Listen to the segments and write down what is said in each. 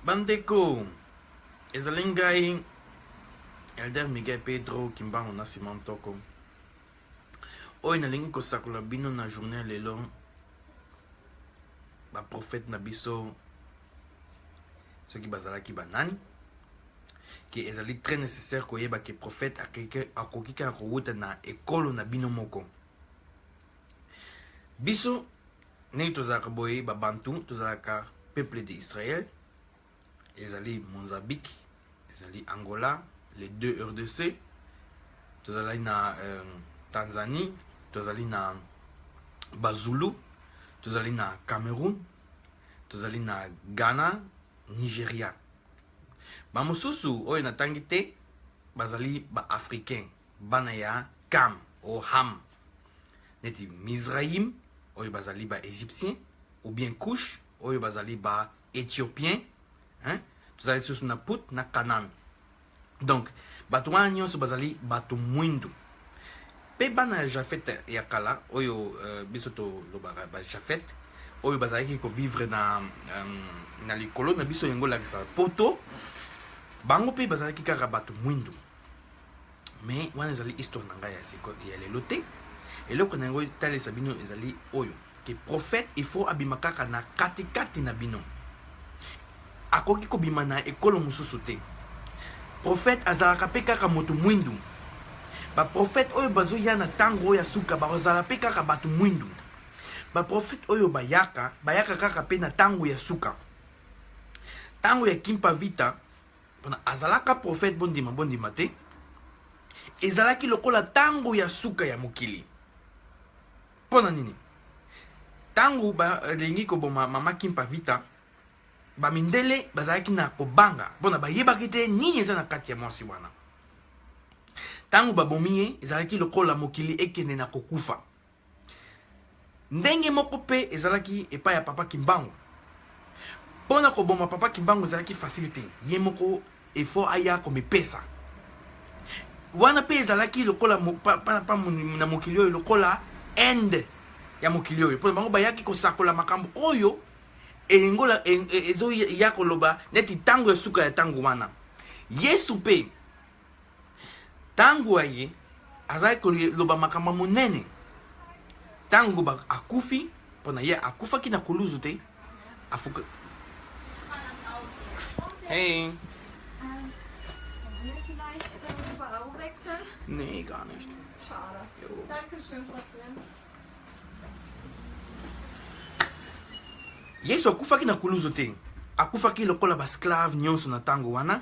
bandeko ezali ngai elder miguel pedro kimbango na sima ntoko oyo nalingi kosakola bino na journée ya lelo baprofete na biso soki bazalaki banani ke ezali très nécessaire koyeba ke prophète akoki kaka kowuta na ekolo na bino moko biso ndenge tozalaka boye babantu tozalaka peuple de israel ezali monzabiki ezali angola les deux rdc tozalaki na euh, tanzanie tozali na bazulu tozali na cameroun tozali na ghana nigeria bamosusu oyo natangi te bazali baafricain bana ya kam o ham neti mizraim oyo bazali ba égyptien ou bien couche oyo bazali ba éthiopien hein? tozali lisusu na put na kanan donc bato wana nyonso bazali bato mwindu mpe bana ya jafete ya kala oyo uh, biso tolobaka bajafete oyo bazalaki kovivre na, um, na likolo na biso yango olakisaka poto bango mpe bazalaki kaka bato mwindu mais wana ezali histoire na ngai ya siko ya lelo te eloko na yango etalisa bino ezali oyo ke prophète il faut abima kaka na katikati na bino akoki kobima na ekolo mosusu te prophète azalaka mpe kaka moto mwindu baprofete oyo bazoya na ntango oyo ya suka bazala mpe kaka bato mwindu baprofete oyo bayaka bayaka kaka mpe na ntango ya suka ntango ya kimpa vita mpona azalaka profete bondima bondima te ezalaki lokola ntango ya suka ya mokili mpo na nini ntango balingi koboma mama kimpa vita bamindele bazalaki na kobanga mpo na bayebaki te nini eza na kati ya mwasi wana ntango babomi ye ezalaki lokola mokili ekende na kokufa ndenge moko mpe ezalaki epai ya papa kimbangu mpo na koboma papa kimbangu ezalaki fasili te ye moko efo aya komipesa wana mpe ezalaki lokola na mokili oyo lokola inde ya mokili oyo mpo bango bayaki kosakola makambo oyo eyengola e, e, ezoya koloba neti ntango ya suka ya ntango wana yesu mpe ntango aye azalaki koloba makambo ya monene ntango akufi mpo na ye akufaki na kuluzu te afuka hey. Nee, gar nicht. Schade. Jo. Dankeschön, Fabian. yesu akufaki na kuluzu te akufaki lokola basclave nyonso na ntango wana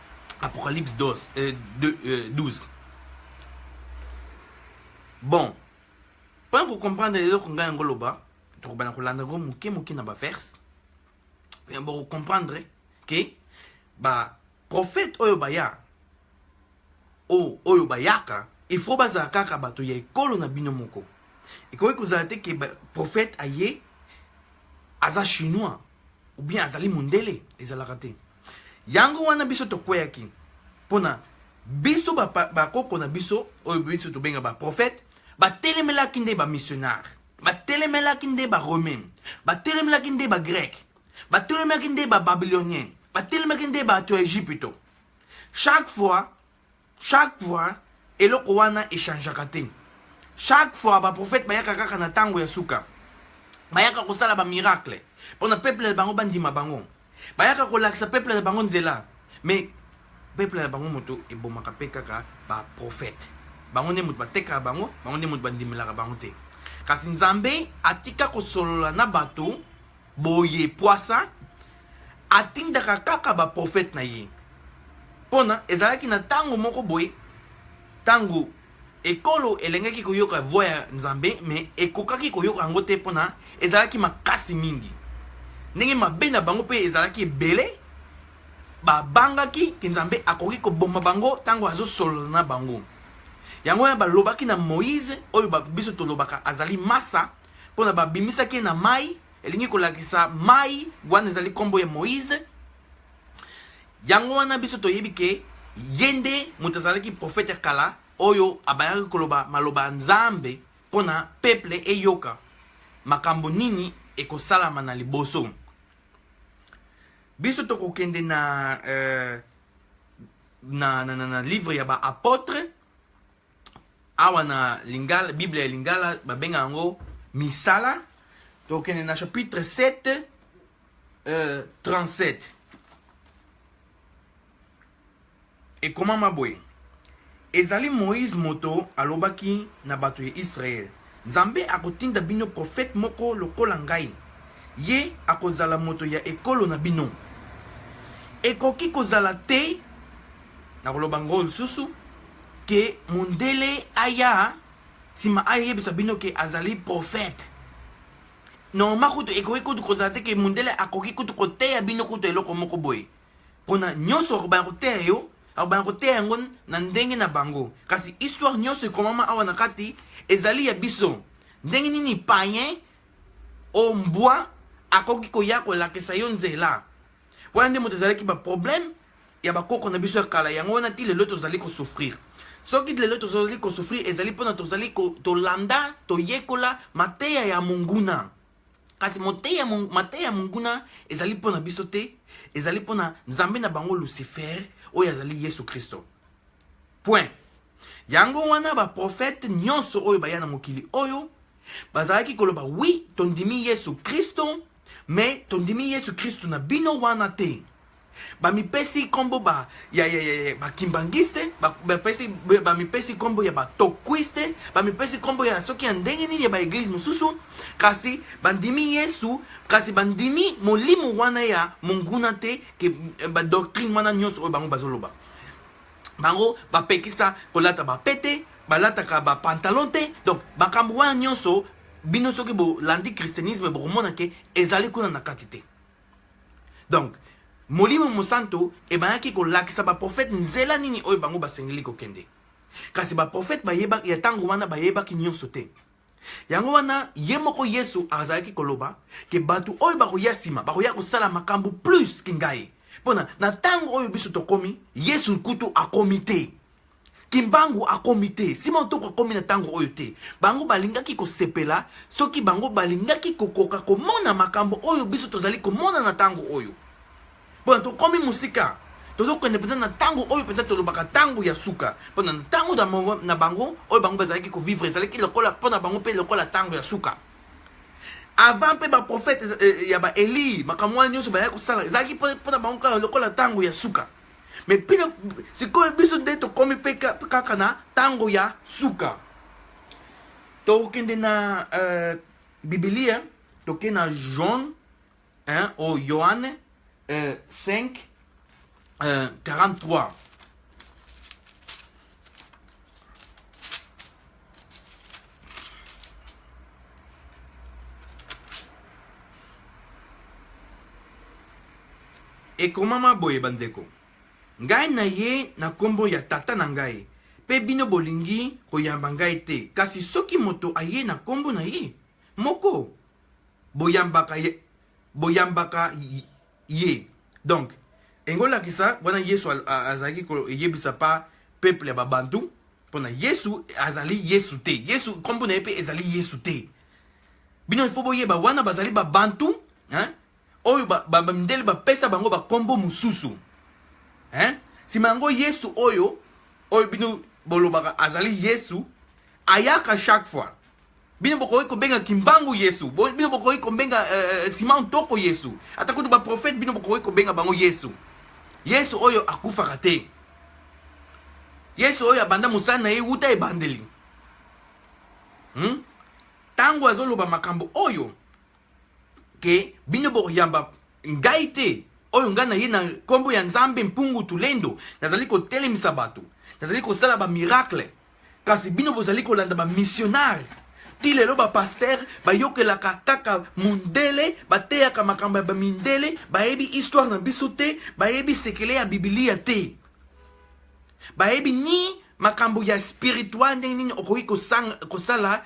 Apocalypse 12, euh, de, euh, 12. Bon, mpo na kocomprendre eloko ngai yango loba tokobanda kolanda yango moke moke na baverse bokocomprendre ke baprofete oyo baya o oyo bayaka il faut bazala kaka bato ya ekolo na bino moko ekoki kozala te ke profete aye aza chinois ou bien azali mondele ezalaka te yango wana biso tokweyaki mpona biso bakoko na biso oyo biso tobenga baprofete batelemelaki nde bamissionnaire batelemelaki nde baromain batelemelaki nde bagreke batelemelaki nde bababylonien batelemaki nde bato ya egypito chaque fois Chaque fois eloko wana echangeaka te. Chaque fois ba prophète bayaka kaka na tango ya suka. Bayaka kosala ba miracle pona peuple na bango bandima bango. Bayaka kolakisa peuple na bango nzela. Mais peuple na bango moto ebomaka pe kaka ba prophète. Bango nde moto batekaka bango, bango nde moto bandimelaka bango te. Kasi Nzambe atika kosolola na bato boye pwasa atindaka kaka baprofete na ye mpona ezalaki na ntango moko boye ntango ekolo elengaki koyoka voi ya nzambe me ekokaki koyoka yango te mpona ezalaki makasi mingi ndenge mabe na bango mpe ezalaki ebele babangaki ke nzambe akoki koboma bango ntango azosolola na bango yango wana balobaki na moïse oyo biso tolobaka azali masa mpona babimisaki ye na mai elingi kolakisa mai wana ezali nkombo ya moïse yango wana biso toyebi ke ye nde moto azalaki profete ya kala oyo abayaki koloba maloba ya nzambe mpo na peple eyoka makambo nini ekosalama na liboso biso tokokende na, euh, na, na, na, na livre ya baapotre awa na lingala bible ya lingala babenga yango misala tokende na chapitre 7 euh, 37 ekomama boye ezali moïse moto alobaki na bato ya israele Nzambe akotinda bino profete moko lokola ngai, ye akozala moto ya ekolo na bino. Ekoki kozala te, nakoloba yango lisusu, ke mondele aya sima ayebisa bino ke azali profete. Normalement kutu ekoki kutu kozala te ke mondele akoki kutu koteya bino kutu eloko moko boye, pona nionso akobanda koteya yo akobanda koteya yango na ndenge na bango kasi histoire nyonso ekomama awa na kati ezali ya biso ndenge nini payen o mbwa akoki koya kolakisa yo nzela wana nde moto ezalaki baproblème ya bakoko na biso ya kala yango wana ti lelo tozali kosouffrir soki lelo tozali kosouffrir ezali mpona tozali tolanda toyekola mateya ya monguna kasi moteya mateya ya monguna ezali mpo na biso te ezali mpo na nzambe na bango lucifer oyo azali yesu kristo point yango wana baprofete nyonso oyo baya na mokili oyo bazalaki koloba wi tondimi yesu kristo me tondimi yesu kristo na bino wana te bamipesi nkombo ba, ya, ya, ya, ya bakimbangiste bamipesi ba, ba, ba nkombo ya batokwiste bamipesi nkombo ya soki ya ndenge nini ya baeglize mosusu kasi bandimi yesu kasi bandimi molimo wana ya monguna te ke eh, badoctrine wana nyonso oyo bango bazoloba bango bapekisa kolata bapete balataka bapantalon te donc makambo wana nyonso bino soki bolandi christianisme bokomona ke ezali kuna na kati te donc molimo mosantu ebandaki kolakisa baprofete nzela nini oyo bango basengeli kokende kasi baprofete ya ntango wana bayebaki nyonso te yango wana ye moko yesu azalaki koloba ke bato oyo bakoya nsima bakoya kosala makambo plus ke ngai mpona na ntango oyo biso tokomi yesu kutu akomi te kimbangu akomi te sima otoko akomi na ntango oyo te bango balingaki kosepela soki bango balingaki kokoka komona makambo oyo biso tozali komona na ntango oyo mpona tokomi mosika tozokende mpenza na ntango oyo mpenza tolobaka ntango ya suka mpo na ntango na bango oyo bango bazalaki kovivre ezalaki lokola mpo na bango mpe lokola ntango ya suka avant mpe baprofete eh, eh, ya baeli makambo wana nyonso bayaki kosala ezalaki mpo na bango kaka lokola ntango ya suka me bino sikoyo biso nde tokomi mpe kaka na ntango ya suka tokokende na uh, bibilia toke na john hein, o yohane uh, 5 uh, 43 ekomama boye bandeko ngai na ye na nkombo ya tata na ngai mpe bino bolingi koyamba ngai te kasi soki moto aye na nkombo na ye moko boyambaka, boyambaka ye donc engolakisa wana yesu azalaki koyebisa pa peuple ya babantu mpona yesu azali yesu te yesu nkombo na ye mpe ezali yesu te bino ifo boyeba wana bazali babantu hein? oyo bamindele ba, ba, bapesa bango bakombo mosusu hein? nsima yango yesu oyo oyo bino bolobaka azali yesu ayaka chaque fois bino bokoki kobenga kimbangu yesu bino bokoki kobenga uh, eh, eh, sima ntoko yesu ata kutu baprofete bino bokoki kobenga bango yesu yesu oyo akufaka te yesu oyo abanda mosala na ye wuta ebandeli ntango hmm? azoloba makambo oyo ke bino bokoyamba ngai te oyo ngai na ye na nkombo ya nzambe mpungu tulendo nazali kotelemisa bato nazali kosala bamiracle kasi bino bozali kolanda bamisionare ti lelo bapastere bayokelaka kaka mondele bateyaka makambo ya bamindele bayebi histoire na biso te bayebi sekele ya bibilia te bayebi ni makambo ya spiritual ndenge nini okoki kosala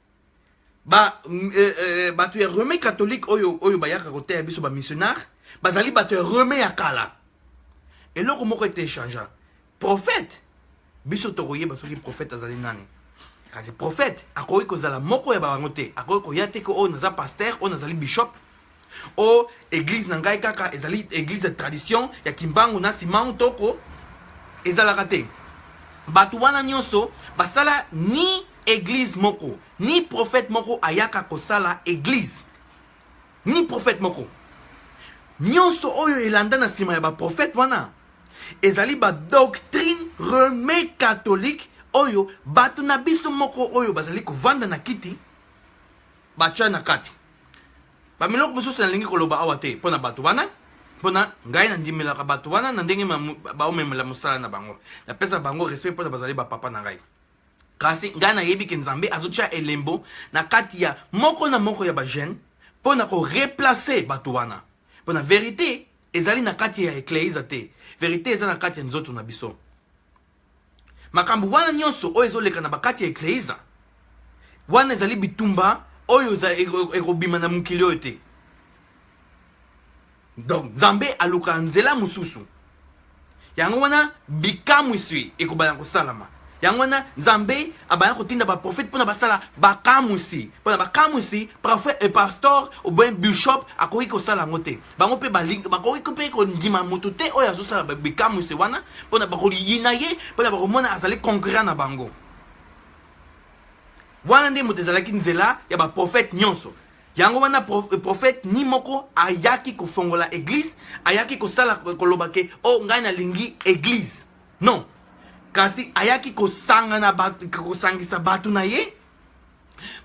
ba mm, eh, eh, bato ya rome catholique oyo oyo bayaka koteya biso bamissionnaire bazali bato ya rome ya kala eloko moko ete echangea prophète biso tokoyeba soki prophète azali nani kasi prophète akoki kozala moko ya bango te akoki koya te ke oyo naza paster oyo nazali bishop o oh, eglise na ngai kaka ezali eglise ya tradition ya kimbangu na simau toko ezalaka te bato wana nyonso basala ni eglise moko ni prophète moko ayaka kosala eglise ni prophète moko nyonso oyo elanda na nsima ya baprofete wana ezali badoctrine reme catholique oyo bato na biso moko oyo bazali kovanda na kiti batya na kati bamiloko mosusu nalingi koloba awa te mpo na bato wana mpo na ngai nandimelaka bato wana na ndenge baomemela mosala na bango napesa bango respect mpo na bazali bapapa na ngai kasi ngai nayebi ke nzambe azotya elembo na kati ya moko na moko ya bajeune mpo na koreplace bato wana mpo na verite ezali na kati ya ekleiza te verite eza na kati ya nzoto na biso makambo wana nyonso oyo ezoleka na bakati ya ekleise wana ezali bitumba oyo ekobima na mokili oyo te donc nzambe aluka nzela mosusu yango wana bikamwiswi ekobana kosalama yango wana nzambe abanda kotinda baprofete mpona basala bakamwisi mpona bakamwisi profe e eh, pastor oboye bishop akoki kosala yango te bango mpe bakoki mpe kondima moto te oyo azosala bikamwisi wana mpona bakoyina ye mpona bakomona azali concurrent na bango wana nde moto ezalaki nzela ya baprofete nyonso yango wana eh, profete ni moko ayaki kofongola eglise ayaki kosala koloba ke o oh, ngai nalingi eglise non kasi ayaki kosangana kosangisa bato na ye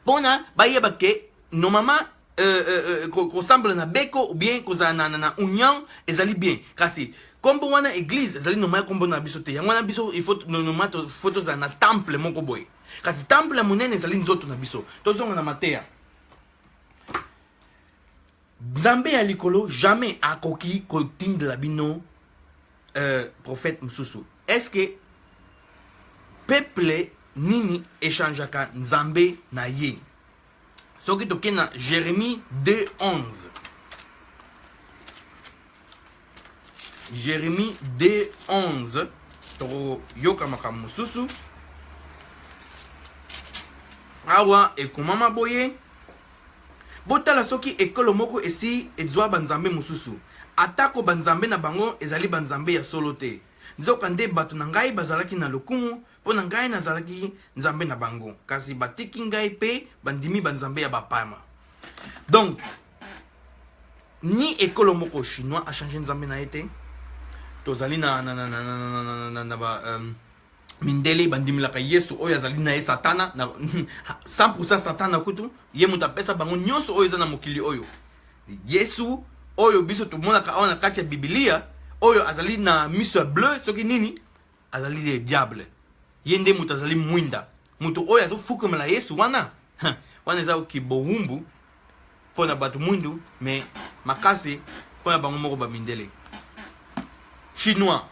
mpona bayeba ke nomama euh, euh, euh, kosambela na beko ou bien kozala na, na, na union ezali bien kasi nkombo wana église ezali nomaya nkombo na biso te yango wana biso noma fo tozala na temple moko boye kasi temple ya monene ezali nzoto na biso tozonga na mateya nzambe ya likolo jamais akoki kotindela bino euh, prophète mosusu est ce que peuple nini echangeaka nzambe na ye soki toke na jeremie 2 11 jeremie 2 11 tokoyoka makambo mosusu awa ekomama boye botala soki ekolo moko esi ezwa banzambe mosusu atako banzambe na bango ezali banzambe ya solo te nzokande bato na ngai bazalaki na lokumu Mpo na ngai nazalaki nzambe na bango, kasi batiki ngai mpe bandimi banzambe ya bapama. Donc, ni ekolo moko chinois achange nzambe na ye te tozali na, na, na, na, na, na, na, na, na ba, um, mindele bandimelaka yesu oyo azali na ye satana na 100 satana kutu ye moto apesa bango nyonso oyo eza na mokili oyo yesu oyo biso tomonaka awa na kati ya bibilia oyo azali na miso ya bleu soki nini azali le diable ye nde moto azali mwinda moto oyo azofukamela yesu wana wana eza kibowumbu mpo na bato mwindu me makasi mpo na bango moko bamindele chinois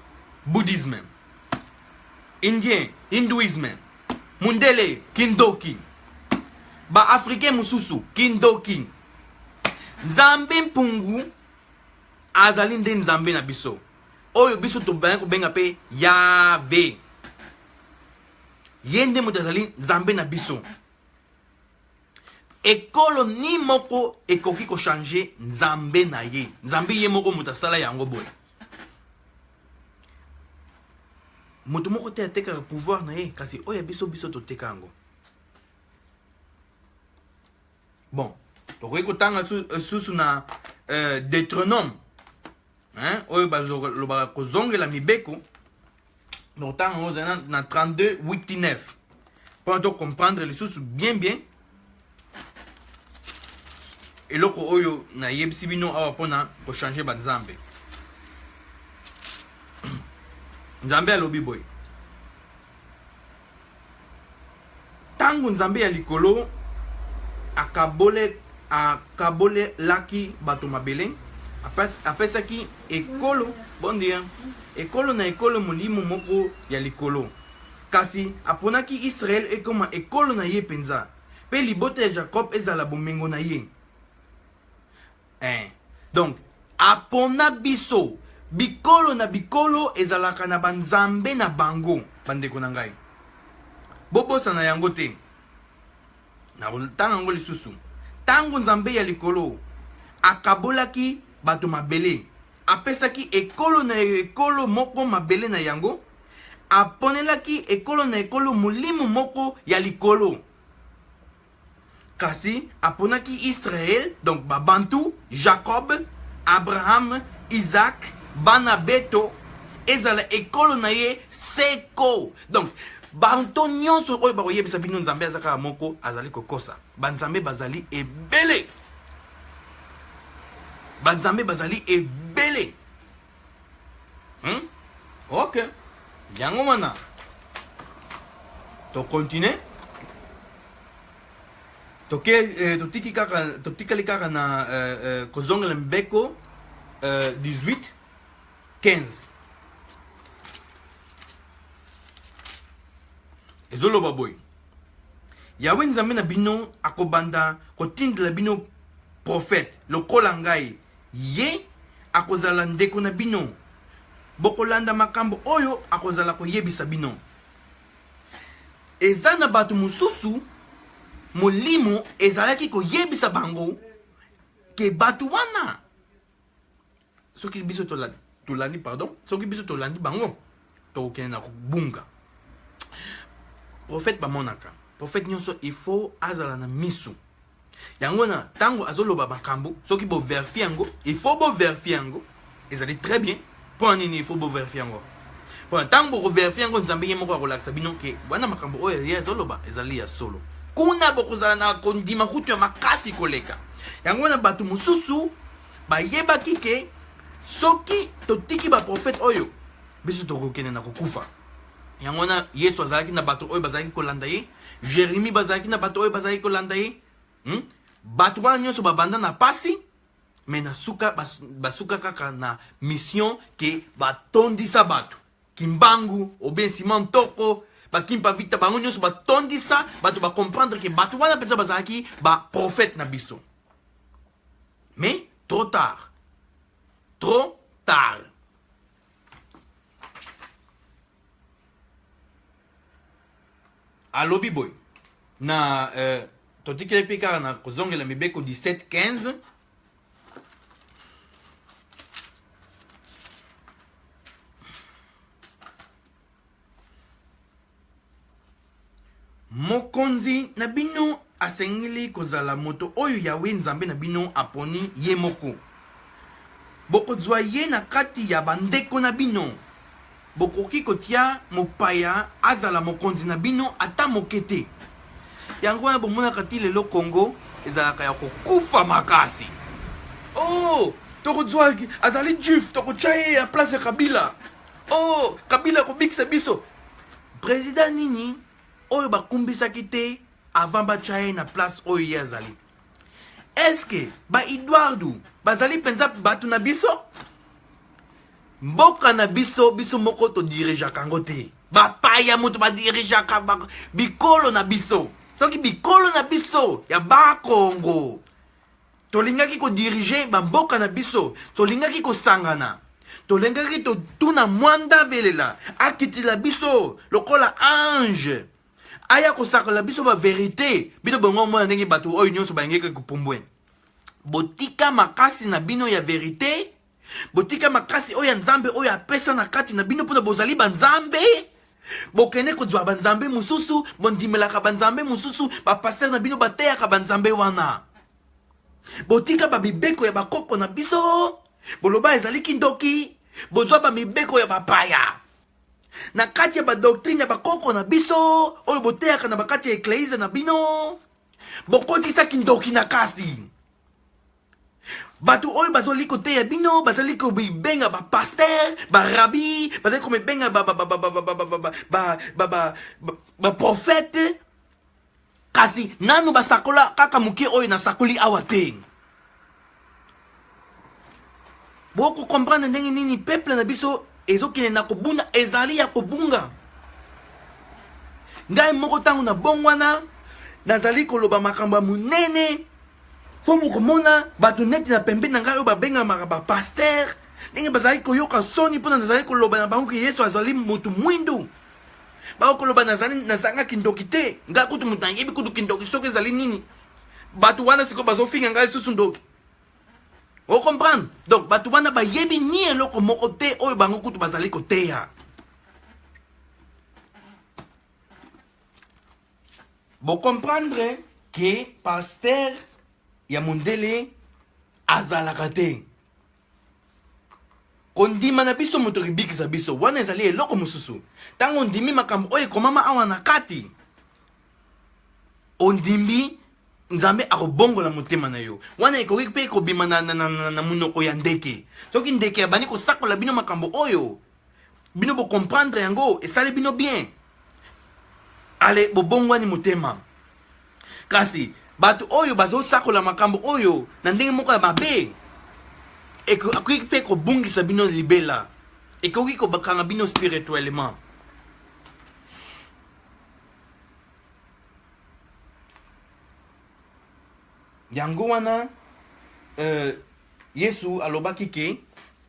bouddhisme indien hindouisme mundele kindoki baafricain mosusu kindoki nzambe mpungu azali nde nzambe na biso oyo biso tobandi kobenga mpe yave ye nde moto azali nzambe na biso ekolo ni moko ekoki kochange nzambe na ye nzambe ye moko moto asala yango boye moto moko te atekaka pouvoir na ye kasi oyo ya biso biso toteka yango bon tokoki kotanga euh, susu na euh, deuteronome hein, oyo balobaka kozongela mibeko nokotanga yango ozali na 32 8 9 mpona tocomprendre lisusu bien bien eloko oyo nayebisi bino awa mpona kochange banzambe nzambe alobi boye ntango nzambe ya likolo akabole akabolelaki bato mabele apesaki ekolo bondia ekolo na ekolo molimo moko ya likolo kasi aponaki israele ekoma ekolo na ye mpenza mpe libota ya jakob ezala bomengo na ye eh. donc apona biso bikolo na bikolo ezalaka na banzambe na bango bandeko na ngai bobosana yango te nakotanga yango lisusu ntango nzambe ya likolo akabolaki bato mabele apesaki ekolo na ekolo moko mabele na yango aponelaki ekolo na ekolo molimo moko ya likolo Kasi aponaki Israël, donc Babantu, Jacob, Abraham, Isaac, bana beto, ezala ekolo na ye seko. Donc banto nyonso oyo bakoyebisa bino nzambe aza kaka moko azali kokosa banzambe bazali ebele banzambe bazali ebele hmm? ok yango wana tocontinue toke eh, totiki kaka totikali kaka na eh, eh, kozongela mibeko eh, 18 15 ezoloba boye yawe nzambe na bino akobanda kotindela bino profete lokola ngai Ye akozala ndeko na bino. Bokolanda makambo oyo akozala koyebisa bino. Eza na bato mosusu molimo ezalaki koyebisa bango ke bato wana soki biso tolandi pardon soki biso tolandi bango tokokende na kobunga profete bamonaka profete nyonso il faut azala na miso yango na ntango azoloba makambo soki boverifie yango il faut boverifie yango ezali très bien mpo na nini il faut boverifie yango mpo na ntango bokoverifie yango nzambe ye moko akolakisa bino ke wana makambo oyo ye azoloba ezali ya solo kuna bokozala na kondima kutu ya makasi koleka yango wana bato mosusu bayebaki ke soki totiki baprofete oyo biso tokokende na kokufa yango wana yesu azalaki na bato oyo bazalaki kolanda ye jeremi bazalaki na bato oyo bazalaki kolanda ye hmm? bato wana nyonso babanda na pasi me na suka basuka kaka na mission ke batondisa bato kimbangu obensima ntoko bakimpa vita bango nyonso batondisa bato bacomprendre ke bato wana mpenza bazalaki baprofete na biso mais trop tard trop tard alobi boye na euh, totikeli mpe kaka na kozongela mibeko 17 15 Mokonzi na bino asengeli kozala moto oyo Yawe Nzambe na bino aponi ye moko. Bokozwa ye na kati ya bandeko na bino. Bokoki kotia mopaya azala mokonzi na bino ata moke te. Yango wana bomonaka ti lelo Congo ezalaka ya kokufa makasi. Oh, tokozwa azali juif, tokotya ye ya place ya Kabila. oh kabila akobikisa biso president nini oyo bakumbisaki te avant batya ye na place oyo ye azali eske baeduardo bazali mpenza bato na biso mboka na biso biso moko todirijaka yango te bapaya moto badirijaka bikolo na biso soki bikolo na biso ya bakongo tolingaki kodirige bamboka na biso tolingaki kosangana tolingaki totuna mwanda velela akitila biso lokola ange aya kosakola biso baverité bino bongo omona ndenge bato oyo nyonso bayangeki kopumbwe botika makasi na bino ya verité botika makasi oyo ya nzambe oyo apesa na kati na bino mpona bozali banzambe bokende kozwa banzambe mosusu bondimelaka banzambe mosusu bapastere na bino bateyaka banzambe wana botika bamibeko ya bakoko na biso boloba ezali kindoki bozwa bamibeko ya bapaya na kati ya badoktrine ya bakoko na biso oyo boteyaka na bakati ya ekleise na bino bokotisaki ndoki na kasi bato oyo bazali koteya bino bazali komibenga bapaster barabi bazali komibenga baprofete kasi nanu basakola kaka moke oyo nasakoli awa te bokokomprendre ndenge nini peuple na biso ezokende na kobuna ezali ya kobunga ngai moko ntango na bongwana nazali koloba makambo ya monene fo mokomona bato neti na pembe na ngai oyo babengamaka bapaster ndenge bazalaki koyoka soni mpona nazali koloba na bango ke yesu azali motu mwindu bakoloba nazanga kindoki te ngai kutu moto nayebi kutu kindoki soki ezali nini bato wana sikoyo bazofinga ngai lisusu ndoki ocomprendre donc bato wana bayebi ni eloko moko te oyo bango kutu bazali koteya Bo comprendre que pasteur ya mondele azalaka te kondima na biso moto ekibikisa biso wana ezali eloko mosusu ntango ondimi makambo oyo ekomama awa na kati ondimi nzambe akobongola motema na yo wana ekoki mpe kobima na, na, na, na, na monoko ya ndeke soki ndeke abandi kosakola bino makambo oyo bino bo comprendre yango esali bino bien ale bobongwani motema kasi bato oyo bazosakola makambo oyo na ndenge moko ya mabe ekoki mpe kobungisa bino libela ekoki kobakanga bino spirituellement yango wana euh, yesu alobaki ke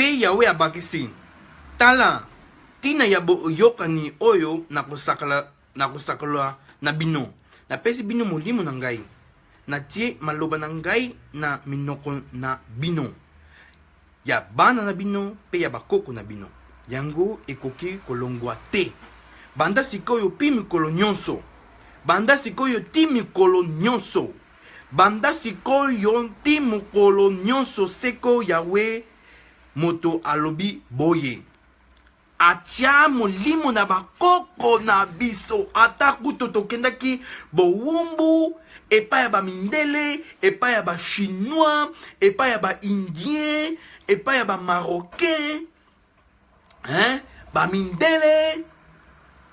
mpe yawe abakisi tala ntina ya boyokani oyo nakosakala nakosakala na bino napesi bino molimo na ngai natie maloba na ngai na minoko na bino ya bana na bino mpe ya bakoko na bino. Yango ekoki kolongwa te. Banda sikoyo pi mikolo nyonso. Banda sikoyo ti mikolo nyonso. Banda sikoyo ti mokolo nyonso seko Yawe moto alobi boye. Atia molimo na bakoko na biso, ata kutu tokendaki bowumbu epai ya bamindele, epai ya bachinois, epai ya baindien, epai ya bamarocain, hein? bamindele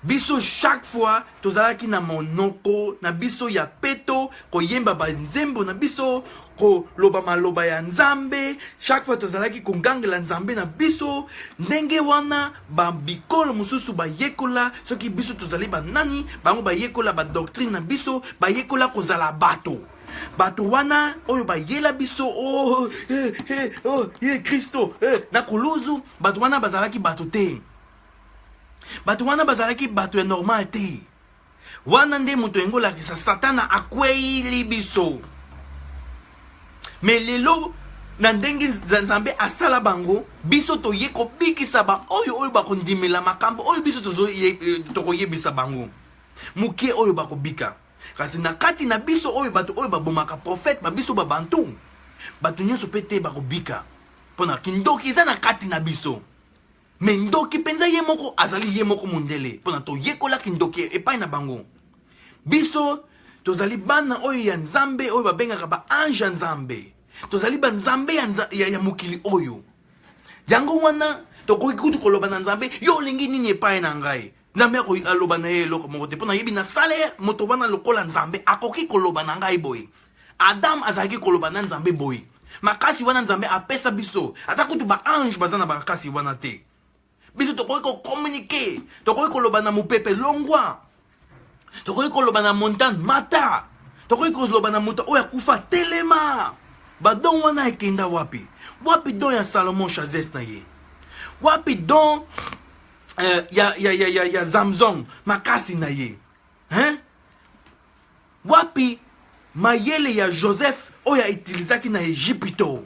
Biso chaque fois tozalaki na monoko na biso ya peto koyemba ba nzembo na biso koloba maloba ya nzambe chaque fois tozalaki kogangela nzambe na biso ndenge wana babikolo mosusu bayekola soki biso tozali banani bango bayekola badoctrine na biso bayekola kozala bato bato wana oyo bayela biso oh, eh, eh, oh, ye eh, kristo eh, na kuluzu bato wana bazalaki bato te bato wana bazalaki bato ya normal te wana nde moto yango olakisa satana akweyili biso me lelo na ndenge nzambe asala bango biso toye kobikisa baoyo oyo bakondimela makambo oyo biso eh, tokoyebisa bango moke oyo bakobika kasi na kati na biso oyo bato oyo babomaka profete ba biso babantu bato nyonso mpe te bakobika mpo na kindoki eza na kati na biso me ndoki mpenza ye moko azali ye moko mondele mpona toyekola kindoki epai na bango biso tozali bana oyo ya nzambe oyo babengaka baange ya nzambe tozali banzambe ya, nza, ya, ya mokili oyo yango wana tokoki kutu koloba na nzambe yo olingi nini epai na ngai nzambe aloba na ye eloko moko te mpo nayebi na salaire moto wana lokola nzambe akoki koloba na ngai boye adam azalaki koloba na nzambe boye makasi wana nzambe apesa biso ata kutu baange baza na makasi wana te biso tokoki kokomunike tokoki koloba na mopepe longwa tokoki koloba na montagne mata tokoki koloba na moto oyo akufa telema badon wana ekenda wapi wapi don ya salomon chazes na ye wapi don euh, ya, ya, ya, ya, ya zamzong makasi na ye hein? wapi mayele ya joseph oyo aitilizaki na egipito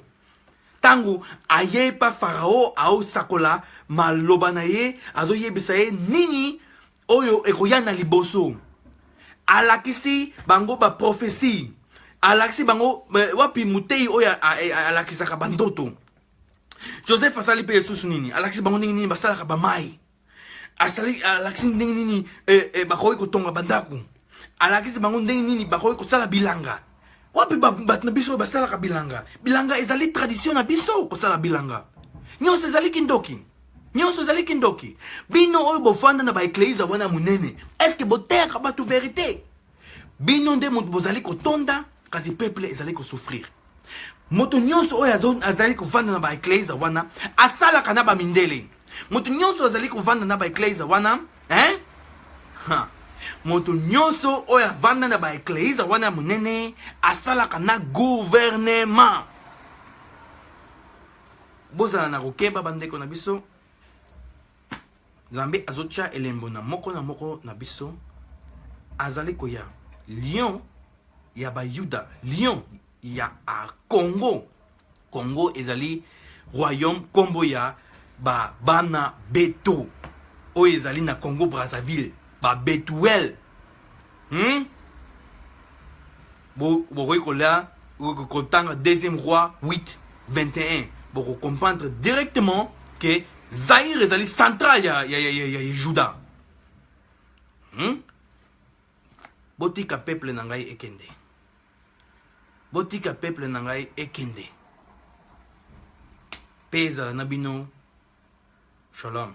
ntango aye epa farao aosakola maloba na ye azoyebisa ye nini oyo ekoya na liboso alakisi bango baprofesi alakisi bango eh, wapi moteyi oyo alakisaka bandoto joseph asali mpe lisusu nini alakisi bango ndenge nini basalaka bamai asali alakisi ndenge nini eh, eh, bakoki kotonga bandako alakisi bango ndenge nini bakoki kosala bilanga wapi bato na biso oyo basalaka bilanga bilanga ezali tradition na biso kosala bilanga nyonso ezali kindoki nyonso ezali kindoki bino oyo bofanda na baeklezia wana monene estce boteyaka bato verite bino nde moto bozali kotonda kasi peuple ezali kosouffrir moto nyonso oyo azali kovanda na baeklezia wana asalaka na bamindele moto nyonso azali kovanda na baeklezia wana hein? ha. moto nyonso oyo avanda na baeklezia wana ya monene asalaka na guvernema bozala na kokeba bandeko na biso nzambe azotya elembo na moko na moko na biso azali koya lion ya bayuda lion ya congo congo ezali royaume nkombo ya babana beto oyo ezali na congo brazzaville babetuel hmm? bokoki kolya kotanga deuxième roi 8 21 bokokomprendre directement ke zaire ezali central ya, ya, ya, ya, ya juda hmm? botika peuple na ngai ekende botika peuple na ngai ekende mpe ezala na bino shalom